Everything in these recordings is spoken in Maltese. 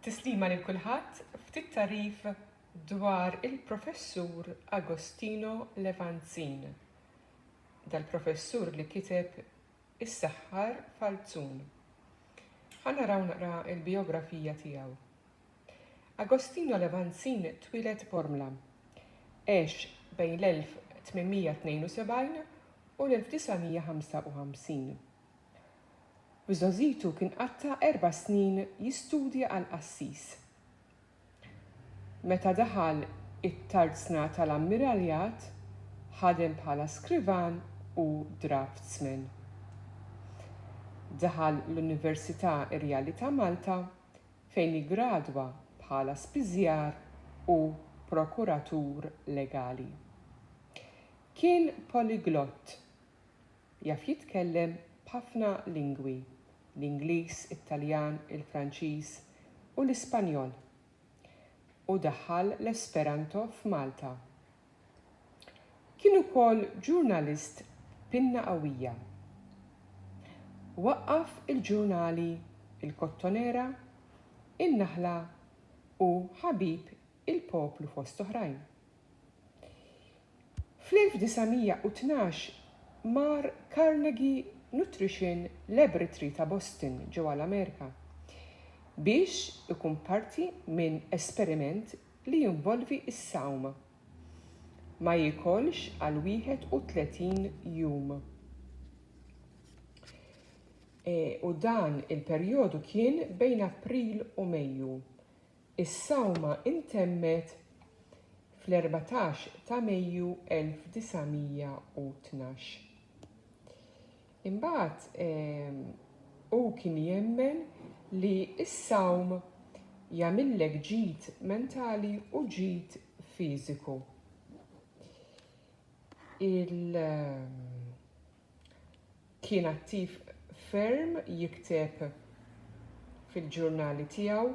Tislima lil kulħadd, ftit tagħrif dwar il-Professur Agostino Levanzin, dal-Professur li kiteb Is-Saħħar Falzun. Ħa naraw naqra l-bijografija tiegħu. Agostino Levanzin twieled Bormla. Għex bejn l-1872 u l-1955. u żgħożitu kien qatta' erba' snin jistudja għal qassis. Meta daħal it-Tarzna tal-Ammiraljat, ħadem bħala skrivan u draftsman. Daħal l-Università Irjali ta' Malta fejn iggradwa bħala spiżjar u prokuratur legali. Kien poliglott Jaf jitkellem b'ħafna lingwi, l-Ingliż, it-Taljan, il-Franċiż u l-Ispanjol. U daħħal l-Esperanto f'Malta. Kien ukoll ġurnalist b'pinna qawwija. Waqqaf il-ġurnali Il-Kottonera, In-Naħla u Ħabib il-Poplu fost oħrajn. Fl-1912 mar Carnegie Nutrition Laboratory ta' Boston, ġewwa l-Amerika, biex ikun parti minn esperiment li jinvolvi s-sawm. Ma jiekolx għal 31 jum. U dan il-perjodu kien bejn April u Mejju. Is-sawma intemmet fl-erbatax ta' Mejju 1912. Imbagħad hu kien jemmen li s-sawm jagħmillek ġid mentali u ġid fiżiku. Il Kien attiv ferm jikteb fil-ġurnali tiegħu,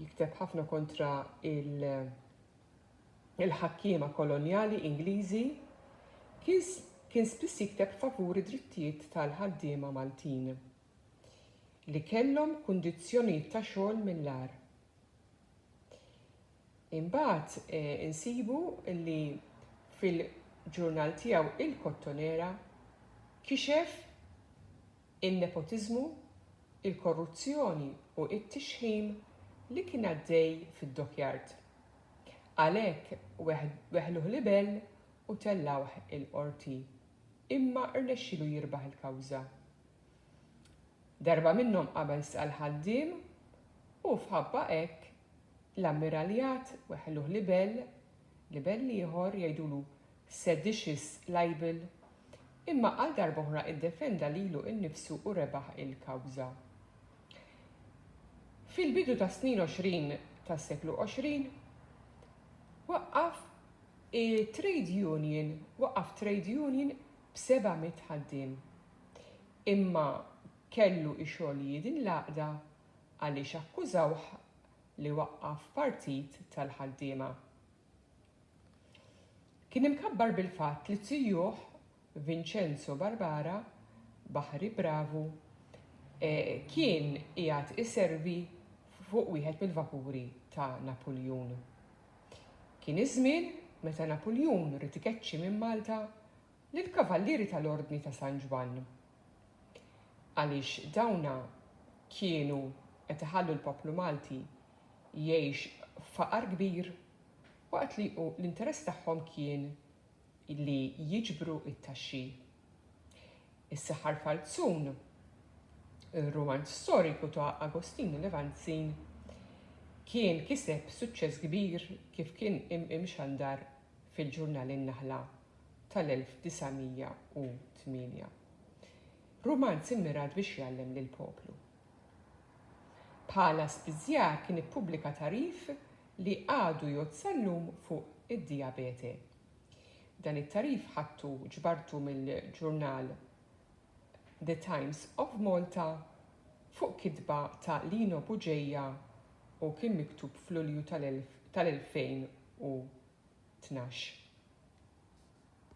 jikteb ħafna kontra il-ħakkiema kolonjali Ingliżi. Kien spiss jikteb favur id-drittijiet tal-ħaddiema Maltin li kellhom kundizzjonijiet ta' xogħol mill-agħar. Imbagħad insibu li fil-ġurnal tiegħu Il-Kottonera kixef in-nepotiżmu, il-korruzzjoni u t-tixħim li kien għaddej fid-dockyard. Għalhekk weħluh libell u tellgħuh il-Qorti imma rnexxielu jirbaħ il-kawża. Darba minnhom qabel stqarr ħaddiem u f'ħabba hekk L-Ammiraljat weħħluh libell, libell ieħor, jgħidulu seditious libel, imma għal darb'oħra iddefenda lilu innifsu u rebaħ il-kawża. Fil-bidu tas-snin għoxrin tas-seklu għoxrin, waqqaf trade union, waqqaf trade union b'seba' mitt ħaddiem. Imma kellu ixogħol jiedin l-għaqda għaliex akkużawh li waqqaf partit tal-ħaddiema. Kien imkabbar bil-fatt li tijuh Vincenzo Barbara, baħri bravu, kien qiegħed iservi fuq wieħed mill-vapuri ta' Napuljun. Kien iż-żmien meta Napuljun ried ikeċċi minn Malta Lill-Kavallieri tal-Ordni ta' San Ġwann. Għaliex dawna kienu qed iħallu l-poplu Malti jgħix f'faqar kbir waqt li l-interess tagħhom kien li jiġbru t-taxxi. Is-Saħħar Falzun, ir-rumanz storiku ta' Agostinu Levanzin kien kiseb suċċess kbir kif kien imxandar fil-ġurnal In-Naħla tal-1908. Rumanz immirat biex jgħallem lill-poplu. Bħala spiżjar kien ippubblika tagħrif li għadu jgħodd sal-lum fuq id-dijabete. Dan it-tagħrif ħadtu ġbartu mill-ġurnal The Times of Malta fuq kitba ta' Lino Bugeja u kien miktub f'Lulju tal-2012.